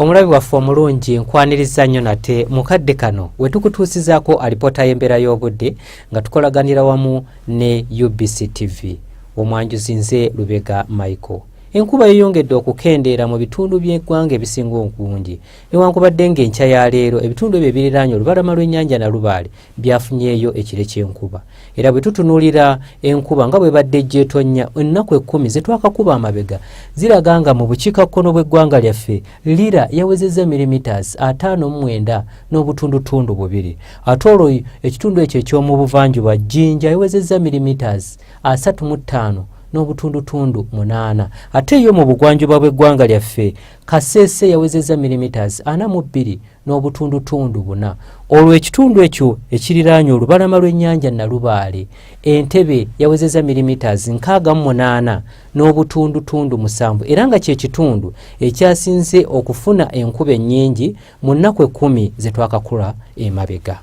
omulabi waffe omulungi nkwaniriza nnyo nate mu kadde kano we tukutuusizaako alipoota y'embeera y'obudde nga tukolaganira wamu ne ubc tv omwanjuzi nze lubega michael enkuba yeyongedde okukendeera mu bitundu by'eggwanga ebisinga obungi newankubadde ng'enkya ya leero ebitundu ebyo ebiriraanye olubalama lw'ennyanja nalubaale byafunyeeyo ekire ky'enkuba era bwe tutunuulira enkuba nga bwe badde ejjeetonnya ennaku ekkumi ze twakakuba amabega ziraga nga mu bukiikakkono bw'eggwanga lyaffe lira yawezezza milimitasi ataano mu mwenda n'obutundutundu bubiri ate olwo ekitundu ekyo eky'omu buvanjuba jjinja yawezezza milimitasi asatu mu ttaano n'obutundutundu munaana ate yo mu bugwanjuba bw'eggwanga lyaffe kaseese yawezezza milimitasi ana mu bbiri n'obutundutundu buna olwo ekitundu ekyo ekiriraanye olubalama lw'ennyanja nalubaale entebe yawezeza milimiters nkaaga mu munaana n'obutundutundu musanvu era nga kye kitundu ekyasinze okufuna enkuba ennyingi mu nnaku ekkumi ze twakakula emabega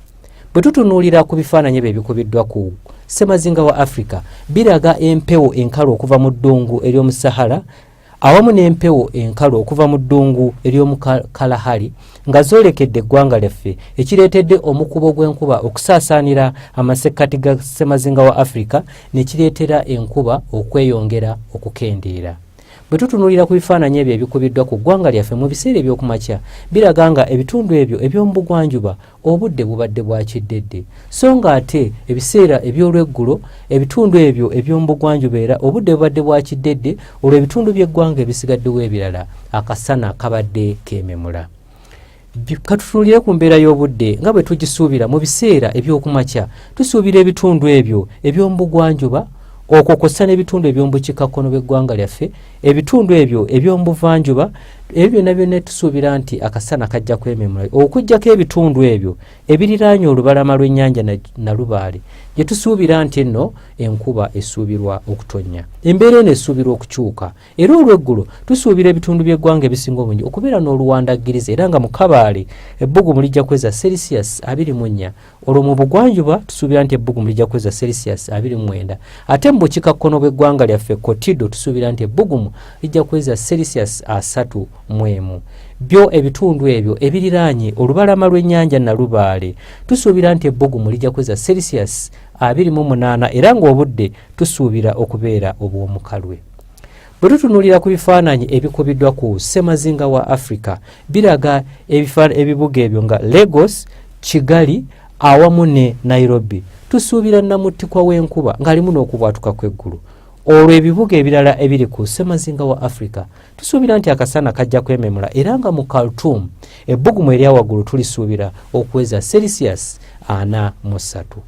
bwe tutunuulira ku bifaananyi ebyo ebikubiddwa ku ssemazinga wa afrika biraga empewo enkalu okuva mu ddungu ery'omu sahara awamu n'empewo enkalu okuva mu ddungu ery'omu kalahari nga zoolekedde eggwanga lyaffe ekireetedde omukubo gw'enkuba okusaasaanira amasekkati ga ssemazinga wa afirika ne kireetera enkuba okweyongera okukendeera bwe tutunuulira ku bifaananyi ebyo ebikubiddwa ku ggwanga lyaffe mu biseera eby'okumakya biraga nga ebitundu ebyo eby'omu bugwanjuba obudde bubadde bwa kiddedde so ng'ate ebiseera eby'olweggulo ebitundu ebyo eby'omubugwanjuba era obudde bubadde bwa kiddedde olwo ebitundu by'eggwanga ebisigaddewo ebirala akasana kabadde keememula katutunulire ku mbeera y'obudde nga bwe tugisuubira mu biseera eby'okumakya tusuubira ebitundu ebyo eby'omubugwanjuba okwo kwossa n'ebitundu eby'omubukikakkono bw'eggwanga lyaffe ebitundu ebyo eby'omu buvanjuba ebyo byonna byonna tusuubira nti akasana kajja kwememula okugyako ebitundu ebyo ebiriraanye olubalama lw'ennyanja nalubaale gye tusuubira nti enno enkuba esuubirwa okutonnya embeera eno esuubirwa okukyuka era olweggulo tusuubira ebitundu by'eggwanga ebisinga obungi okubeera n'oluwandaggiriza era nga mu kabaale ebbugumu lijja kweza celsius abiri mu nnya olwo mu bugwanjuba tusuubira nti ebbugumu lijja kuweza celsius 29 ate mu bukikakkono bw'eggwanga lyaffe kotido tusuubira nti ebbugumu lijja kuweza celsius 3 mu emu byo ebitundu ebyo ebiriraanye olubalama lw'ennyanja nalubaale tusuubira nti ebbugumu lijja kuweza celsius 28 era ng'obudde tusuubira okubeera obw'omukalwe Bwe tutunuulira ku bifaananyi ebikubiddwa ku ssemazinga wa Afrika, biraga ebibuga ebyo nga Lagos, Kigali awamu ne Nairobi. Tusuubira nnamuttikwa w'enkuba ng'alimu n'okubwatuka kw'eggulu. Olwo ebibuga ebirala ebiri ku ssemazinga wa Afrika, tusuubira nti akasana kajja kwememula era nga mu Khartoum ebbugumu eryawaggulu tulisuubira okuweza celsius ana mu ssatu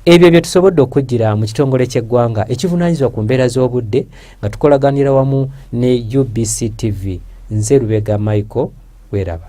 ebyo bye tusobodde okujjira mu kitongole ky'eggwanga ekivunaanyizibwa ku mbeera z'obudde nga tukolaganira wamu ne ubc tv nze lubega michael weraba